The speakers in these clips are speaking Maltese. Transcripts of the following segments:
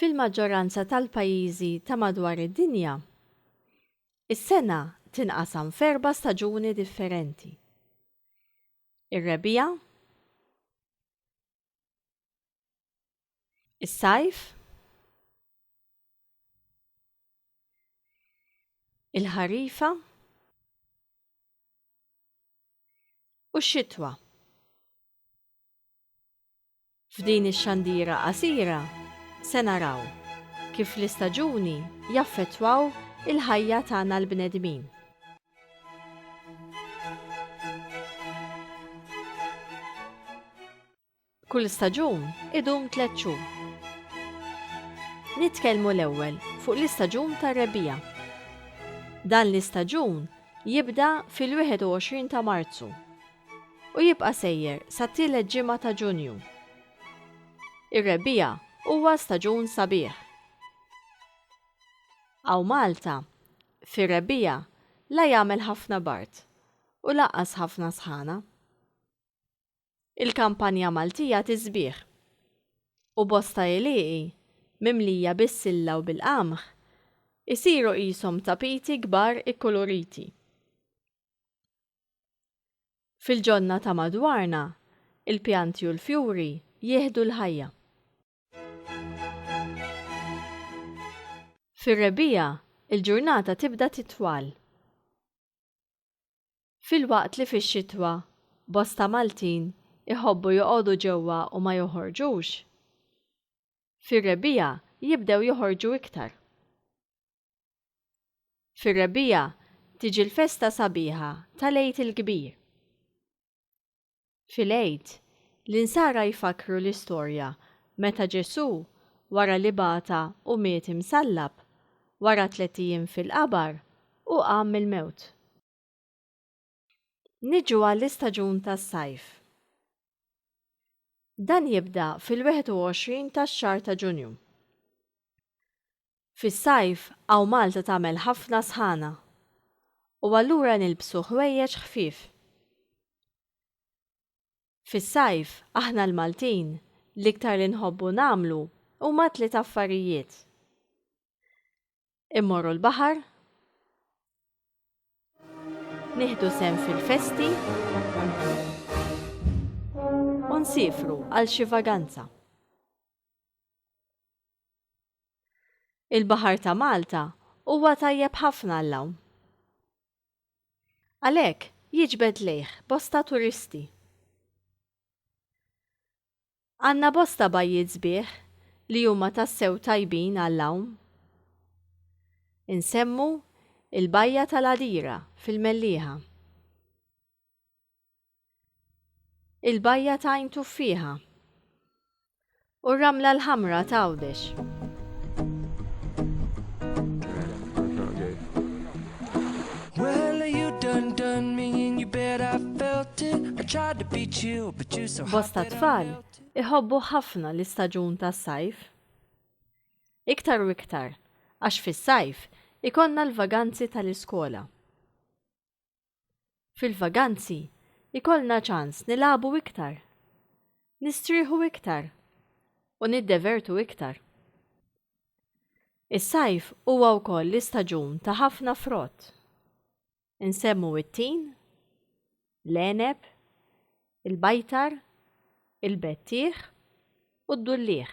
fil-maġġoranza tal-pajjiżi ta' madwar id-dinja, is-sena tinqasam f'erba' staġuni differenti. Ir-rebija, Is-sajf il-ħarifa u x-xitwa. F'din ix-xandira qasira se naraw kif l-istaġuni jaffettwaw il-ħajja tagħna l-bnedmin. Kull staġun idum tliet xhur. Nitkellmu l-ewwel fuq l-istaġun tar-rebbiegħa. Dan l-istaġun jibda fil-21 ta' Marzu u jibqa' sejjer sat-tielet ġimgħa ta' Ġunju. Ir-rebbiegħa huwa staġun sabiħ. Hawn Malta, Fir-rebbiegħa la jagħmel ħafna bard u lanqas ħafna sħana. Il-kampanja Maltija tisbiħ u bosta għelieqi mimlija bis-silla u bil-qamħ isiru qishom tapiti kbar ikkuluriti. Fil-ġonna ta' madwarna, il-pjanti u l-fjuri jieħdu l-ħajja. Fir-rebbiegħa, il-ġurnata tibda titwal. Filwaqt li fix-xitwa bosta Maltin iħobbu joqogħdu ġewwa u ma joħorġux, fir-rebbiegħa jibdew joħorġu iktar. Fir-rebbiegħa tiġi l-festa sabiħa tal-Għid il-Kbir. Fil-Għid, l-Insara jfakkru l-istorja meta Ġesù, wara li bata u miet imsallab, wara tliet ijiem fil-qabar, hu qam mill-mewt. Niġu għall-istaġun tas-sajf. Dan jibda fil-21 tax-xahar ta' Ġunju. Fis-sajf hawn Malta tagħmel ħafna sħana u allura nilbsu ħwejjeġ ħfief. Fis-sajf aħna l-Maltin l-iktar li nħobbu nagħmlu huma tliet affarijiet. Immorru l-baħar, nieħdu sehem fil-festi u nsiefru għal xi vaganza. Il-baħar ta' Malta huwa tajjeb ħafna għall-għawm. Għalhekk, jiġbed lejh bosta turisti. Għandna bosta bajjiet sbieħ li huma tassew tajbin għall-għawm. Insemmu il-Bajja tal-Għadira fil-Mellieħa. Il-bajja ta' Għajn Tuffieħa u r-Ramla l-Ħamra ta' Għawdex. Bosta tfal iħobbu ħafna l-istaġun tas-sajf. Iktar u iktar, għax fis-sajf ikonna l-vaganzi tal-iskola. Fil-vaganzi ikollna ċans nilagħbu iktar, nistrieħu iktar u niddevertu iktar. Is-sajf huwa wkoll l-istaġun ta' ħafna frott. Insemmu it-tin, l-għeneb, il-bajtar, il-bettieħ u d-dulliegħ.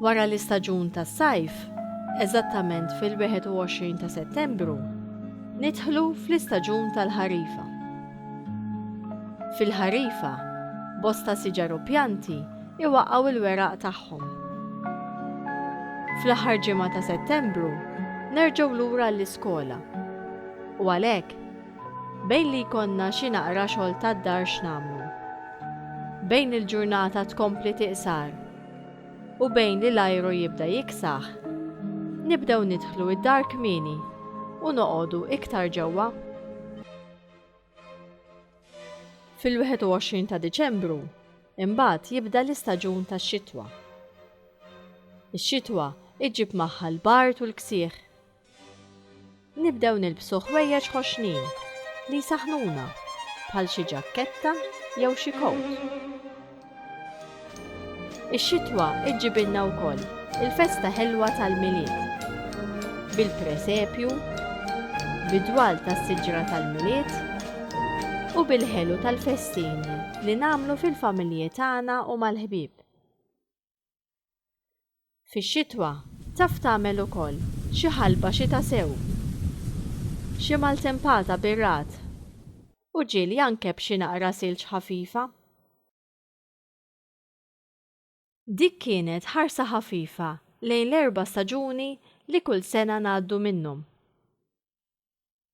Wara l-istaġun tas-sajf, eżattament fil-21 ta' Settembru, nidħlu fl-istaġun tal-ħarifa. Fil-ħarifa, bosta siġar u pjanti iwaqqgħu l-weraq tagħhom. Fl-aħħar ġimgħa ta' Settembru nerġgħu lura għall-iskola. U għalhekk, bejn li jkollna xi naqra xogħol tad-dar x'nagħmlu. Bejn il-ġurnata tkompli tiqsar u bejn li l-ajru jibda jiksaħ, nibdew nidħlu id-dar kmieni u noqogħdu iktar ġewwa. Fil-21 ta' Diċembru, imbagħad jibda l-istaġun tax-xitwa. Ix-xitwa iġġib magħha l-bard u l-ksieħ, Nibdew nilbsu ħwejjeġ ħoxnin li jsaħħnuna, bħal xi ġakketta jew xi kowt. Ix-xitwa ġġibilna wkoll il-festa ħelwa tal-Milied bil-presepju, bid-dwal tas-siġra tal-Milied u bil-ħelu tal-festini li nagħmlu fil-familji tagħna u mal-ħbieb. Fix-xitwa taf tagħmel ukoll xi ħalba xita sew, xi maltempata bir-ragħad u ġieli anke b'xi naqra silġ ħafifa. Dik kienet ħarsa ħafifa lejn l-erba' staġuni li kull sena ngħaddu minnhom.